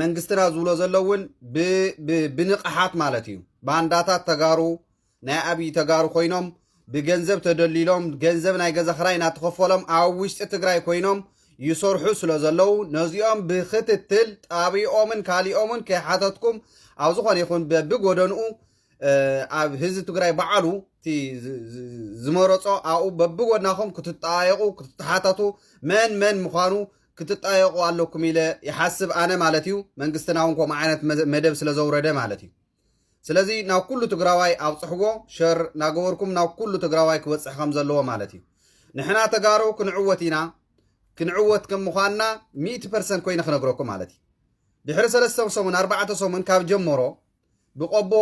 መንግስትና ዝብሎ ዘሎ እውን ብንቕሓት ማለት እዩ ባንዳታት ተጋሩ ናይ ኣብይ ተጋሩ ኮይኖም ብገንዘብ ተደሊሎም ገንዘብ ናይ ገዛ ክራይ እናተኸፈሎም ኣብ ውሽጢ ትግራይ ኮይኖም ይሰርሑ ስለ ዘለዉ ነዚኦም ብክትትል ጣቢኦምን ካሊኦምን ከይሓተትኩም ኣብ ዝኾነ ይኹን በብጎደንኡ ኣብ ህዝቢ ትግራይ በዓሉ እቲ ዝመረፆ ኣብኡ በብጎድናኹም ክትጠያየቑ ክትተሓተቱ መን መን ምዃኑ ክትጣየቁ ኣለኩም ኢለ ይሓስብ ኣነ ማለት እዩ መንግስትና እውን ከምኡ ዓይነት መደብ ስለ ዘውረደ ማለት እዩ ስለዚ ናብ ኩሉ ትግራዋይ ኣብፅሕዎ ሸር ናገበርኩም ናብ ኩሉ ትግራዋይ ክበፅሕ ከም ዘለዎ ማለት እዩ ንሕና ተጋሩ ክንዕወት ኢና ክንዕወት ከም ምዃንና ሚእቲ ፐርሰንት ኮይነ ክነግረኩም ማለት እዩ ድሕሪ ሰለስተ ሰሙን ኣርባዕተ ሰሙን ካብ ጀመሮ ብቆቦ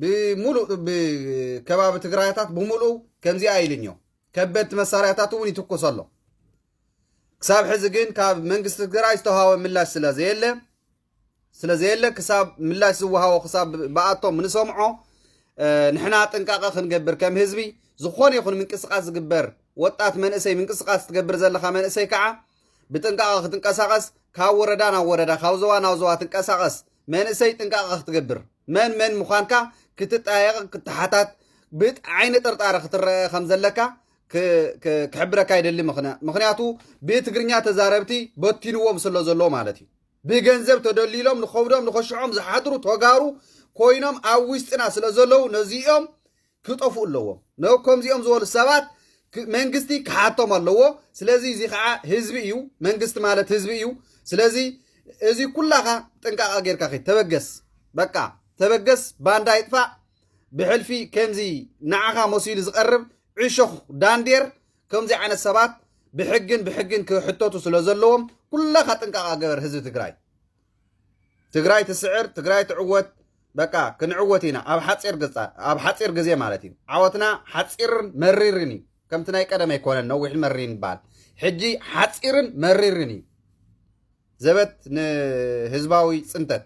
ብምሉእ ከባቢ ትግራይታት ብምሉእ ከምዚኣ ኢልኞ ከበድቲ መሳርያታት እውን ይትኩስ ኣሎ ክሳብ ሕዚ ግን ካብ መንግስቲ ትግራይ ዝተዋሃወ ምላሽ ስለዘየለ ስለዘየለ ክሳብ ምላሽ ዝወሃቦ ክሳብ ብኣቶም ንሰምዖ ንሕና ጥንቃቐ ክንገብር ከም ህዝቢ ዝኾነ ይኹን ምንቅስቃስ ዝግበር ወጣት መንእሰይ ምንቅስቃስ ትገብር ዘለካ መንእሰይ ከዓ ብጥንቃቐ ክትንቀሳቐስ ካብ ወረዳ ናብ ወረዳ ካብ ዞባ ናብ ዞባ ትንቀሳቐስ መንእሰይ ጥንቃቐ ክትገብር መን መን ምዃንካ ክትጠያየቕ ክትሓታት ብዓይኒ ጥርጣረ ክትረአ ከም ዘለካ ክሕብረካ ይደሊ ምክንያቱ ብትግርኛ ተዛረብቲ በቲንዎም ስለ ዘሎ ማለት እዩ ብገንዘብ ተደሊሎም ንኸብዶም ንኸሽዖም ዝሓድሩ ተጋሩ ኮይኖም ኣብ ውሽጥና ስለ ዘለዉ ነዚኦም ክጠፍኡ ኣለዎም ነከምዚኦም ዝበሉ ሰባት መንግስቲ ክሓቶም ኣለዎ ስለዚ እዚ ከዓ ህዝቢ እዩ መንግስቲ ማለት ህዝቢ እዩ ስለዚ እዚ ኩላኻ ጥንቃቐ ጌርካ ኸ ተበገስ በቃ ተበገስ ባንዳ ይጥፋእ ብሕልፊ ከምዚ ንዓኻ መሲሉ ዝቐርብ ዕሾኽ ዳንዴር ከምዚ ዓይነት ሰባት ብሕግን ብሕግን ክሕተቱ ስለ ዘለዎም ኩላኻ ጥንቃቓ ገበር ህዝቢ ትግራይ ትግራይ ትስዕር ትግራይ ትዕወት በቃ ክንዕወት ኢና ኣብ ሓፂር ገፃ ኣብ ሓፂር ግዜ ማለት እዩ ዓወትና ሓፂርን መሪርን እዩ ከምቲ ናይ ቀደም ኣይኮነን ነዊሕን መሪርን ይበሃል ሕጂ ሓፂርን መሪርን እዩ ዘበት ንህዝባዊ ፅንተት